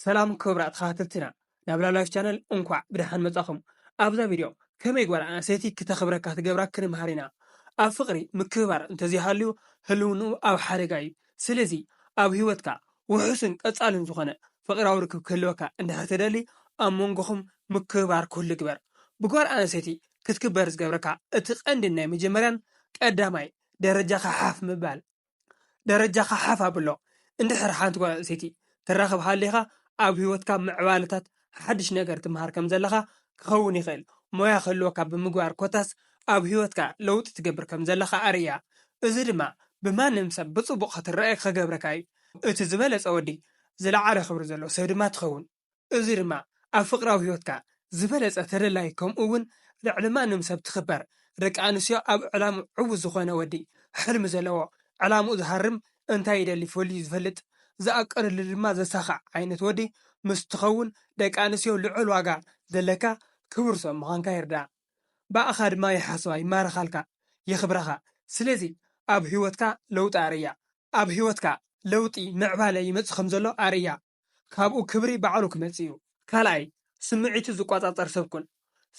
ሰላም ክብራት ተኸታተልትና ናብ ላቭላይፍ ቻነል እንኳዕ ብደሓን መጻኹም ኣብዛ ቪድዮ ከመይ ጓል ኣንስተይቲ ክተኽብረካ ትገብራ ክንምሃር ኢና ኣብ ፍቕሪ ምክብባር እንተዘይሃልዩ ህልውንኡ ኣብ ሓደጋ እዩ ስለዚ ኣብ ህይወትካ ውሑስን ቀጻልን ዝኾነ ፍቕራዊ ርክብ ክህልወካ እንድሕር ትደሊ ኣብ መንጎኹም ምክብባር ኩሉ ግበር ብጓል ኣንስተይቲ ክትክበር ዝገብረካ እቲ ቀንድን ናይ መጀመርያን ቀዳማይ ደረጃኻ ሓፍ ምባል ደረጃኻ ሓፍ ኣብሎ። እንድሕር ሓንቲ ጓል ኣንስተይቲ ትራኽብ ሃሊኻ፣ ኣብ ህይወትካ ምዕባለታት ሓድሽ ነገር ትመሃር ከም ዘለኻ ክኸውን ይኽእል። ሞያ ክህልወካ ብምግባር ኮታስ ኣብ ህይወትካ ለውጢ ትገብር ከም ዘለኻ ኣርእያ። እዚ ድማ ብማንም ሰብ ብጽቡቕ ክትረኣ ክገብረካ እዩ። እቲ ዝበለጸ ወዲ ዝለዓለ ክብሪ ዘለዎ ሰብ ድማ ትኸውን። እዚ ድማ ኣብ ፍቕራዊ ህይወትካ ዝበለጸ ተደላዪ ከምኡ ውን ልዕሊ ማንም ሰብ ትኽበር ደቂ ኣንስትዮ ኣብ ዕላሙ ዕውት ዝኾነ ወዲ ሕልሚ ዘለዎ ዕላምኡ ዝሃርም እንታይ ይደሊ ፈልዩ ዝፈልጥ ዝኣቀደሉ ድማ ዘሳኽዕ ዓይነት ወዲ ምስ ትኸውን ደቂ ኣንስትዮ ልዑል ዋጋ ዘለካ ክቡር ሰብ ምዃንካ ይርድኣ ብኣኻ ድማ ይሓስባ ይማረኻልካ የኽብራኻ ስለዚ ኣብ ህይወትካ ለውጢ ኣርእያ ኣብ ህይወትካ ለውጢ ምዕባለ ይመጽእ ከምዘሎ ኣርእያ። ካብኡ ክብሪ ባዕሉ ክመጽእ እዩ። ካልኣይ፣ ስምዒቱ ዝቆጻጸር ሰብ ኩን።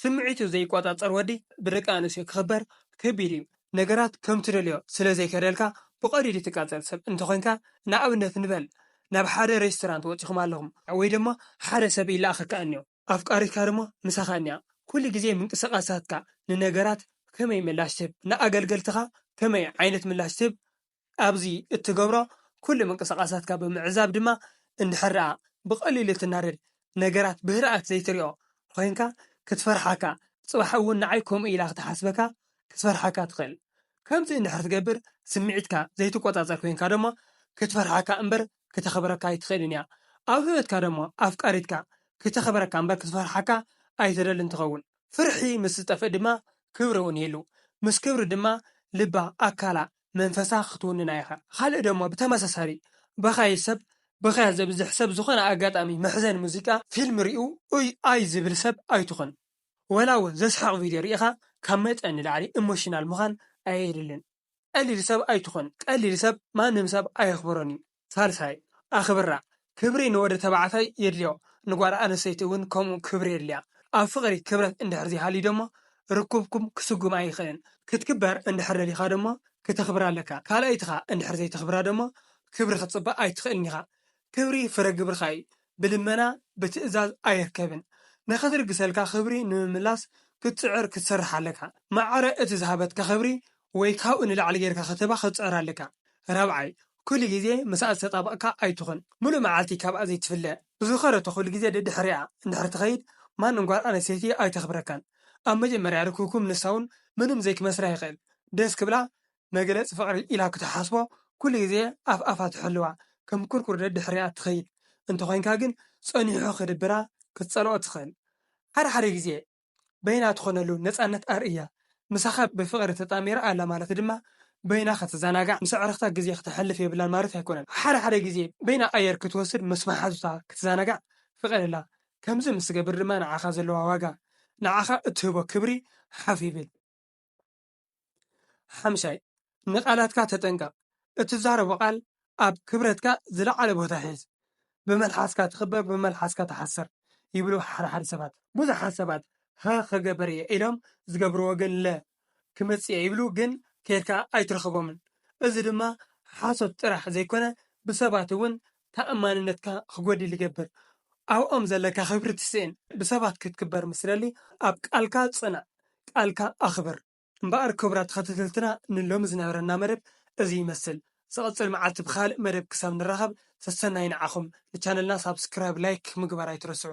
ስምዒቱ ዘይቆጻጸር ወዲ ብደቂ ኣንስትዮ ክኽበር ከቢድ እዩ። ነገራት ከም ትደልዮ ስለ ዘይከደልካ ብቐሊሉ ትቃጸል ሰብ እንተ ኾይንካ፣ ንኣብነት ንበል ናብ ሓደ ሬስቶራንት ወጺኹም ኣለኹም፣ ወይ ድማ ሓደ ሰብ ይለኣኸካ እንዮ፣ ኣፍቃሪትካ ድማ ምሳኻ እንያ፣ ኩሉ ግዜ ምንቅስቓሳትካ ንነገራት ከመይ ምላሽ ትህብ፣ ንኣገልገልትኻ ከመይ ዓይነት ምላሽ ትህብ ኣብዚ እትገብሮ ኩሉ ምንቅስቓሳትካ ብምዕዛብ ድማ እንድሕር ደኣ ብቐሊሉ ትናደድ ነገራት ብህድኣት ዘይትሪኦ ኮይንካ ክትፈርሓካ ጽባሕ እውን ንዓይ ከምኡ ኢላ ክትሓስበካ ክትፈርሓካ ትኽእል ከምዚ እንድሕር ትገብር ስምዒትካ ዘይትቆጻጸር ኮይንካ ደሞ ክትፈርሓካ እምበር ክተኽብረካ ኣይትኽእልን እያ ኣብ ሂወትካ ደሞ ኣፍቃሪትካ ክተኽብረካ እምበር ክትፈርሓካ ኣይትደልን ትኸውን ፍርሒ ምስ ዝጠፍእ ድማ ክብሪ እውን ይህሉ ምስ ክብሪ ድማ ልባ ኣካላ መንፈሳ ክትውንና ኢኻ። ኻልእ ደሞ ብተመሳሳሊ በኻዪ ሰብ ብኽያት ዘብዝሕ ሰብ ዝኾነ ኣጋጣሚ መሕዘኒ ሙዚቃ ፊልም ሪኡ ኡይ ኣይ ዝብል ሰብ ኣይትኹን ወላ ውን ዘስሕቕ ቪድዮ ሪኢኻ ካብ መጠን ንላዕሊ ኢሞሽናል ምዃን ኣየድልን ቀሊል ሰብ ኣይትኹን ቀሊል ሰብ ማንም ሰብ ኣየኽብሮን ዩ ሳልሳይ፣ ኣኽብራ፣ ክብሪ ንወዲ ተባዕታይ የድልዮ፣ ንጓል ኣንስተይቲ እውን ከምኡ ክብሪ የድልያ። ኣብ ፍቕሪ ክብረት እንድሕር ዘይሃልዩ ደሞ ርክብኩም ክስጉም ኣይኽእልን። ክትክበር እንድሕር ደሊኻ ደሞ ክተኽብራ ኣለካ። ካልኣይትኻ እንድሕር ዘይተኽብራ ደሞ ክብሪ ክትጽበ ኣይትኽእልን ኢኻ። ክብሪ ፍረ ግብርኻ እዩ። ብልመና ብትእዛዝ ኣይርከብን ንኽትልግሰልካ ክብሪ ንምምላስ ክትጽዕር ክትሰርሕ ኣለካ ማዕረ እቲ ዝሃበትካ ክብሪ ወይ ካብኡ ንላዕሊ ጌርካ ክትህባ ክትጽዕር ኣለካ ራብዓይ ኩሉ ግዜ ምሳኣ ዝተጣበቕካ ኣይትኹን ምሉእ መዓልቲ ካብኣ ዘይትፍለ ዝኸረቶ ኩሉ ግዜ ደድሕሪኣ እንድሕር ትኸይድ ማንም ጓል ኣንስተይቲ ኣይተኽብረካን ኣብ መጀመርያ ርክብኩም ንሳውን ምንም ዘይክመስላ ይኽእል ደስ ክብላ መግለጺ ፍቅሪ ኢላ ክትሓስቦ ኩሉ ግዜ ኣፍ ኣፋ ትሕልዋ ከም ኩርኩር ደድሕሪኣ ትኸይድ እንተኾይንካ ግን ጸኒሑ ክድብራ ክትጸልኦ ትኽእል ሓደ ሓደ ግዜ በይና ትኾነሉ ነጻነት ኣርእያ ምሳኻ ብፍቅሪ ተጣሚራ ኣላ ማለት ድማ በይና ክትዘናጋዕ ምስ ኣዕርኽታ ግዜ ክተሕልፍ የብላን ማለት ኣይኮነን ሓደ ሓደ ግዜ በይና ኣየር ክትወስድ ምስ መሓዙታ ክትዘናጋዕ ፍቀደላ ከምዚ ምስ ትገብር ድማ ንዓኻ ዘለዋ ዋጋ ንዓኻ እትህቦ ክብሪ ሓፍ ይብል። ሓምሻይ ንቓላትካ ተጠንቀቕ፣ እትዛረቦ ቓል ኣብ ክብረትካ ዝለዓለ ቦታ ሒዝ፣ ብመልሓስካ ትኽበር ብመልሓስካ ትሓስር ይብሉ ሓደ ሓደ ሰባት። ብዙሓት ሰባት ሀ ኽገብር እየ ኢሎም ዝገብርዎ ግን ለ ክመጽእ እየ ይብሉ ግን ከይድካ ኣይትረኽቦምን። እዚ ድማ ሓሶት ጥራሕ ዘይኮነ ብሰባት እውን ተኣማንነትካ ክጎድል ይገብር ኣብኦም ዘለካ ክብሪ ትስእን ብሰባት ክትክበር ምስ ትደሊ ኣብ ቃልካ ጽናዕ ቃልካ ኣኽብር። እምበኣር ክቡራት ተኸተተልትና ንሎሚ ዝነበረና መደብ እዚ ይመስል ዝቕጽል መዓልቲ ብኻልእ መደብ ክሳብ ንራኸብ ሰሰናዩ ንዓኹም ንቻነልና ሳብስክራይብ ላይክ ምግባር ኣይትረስዑ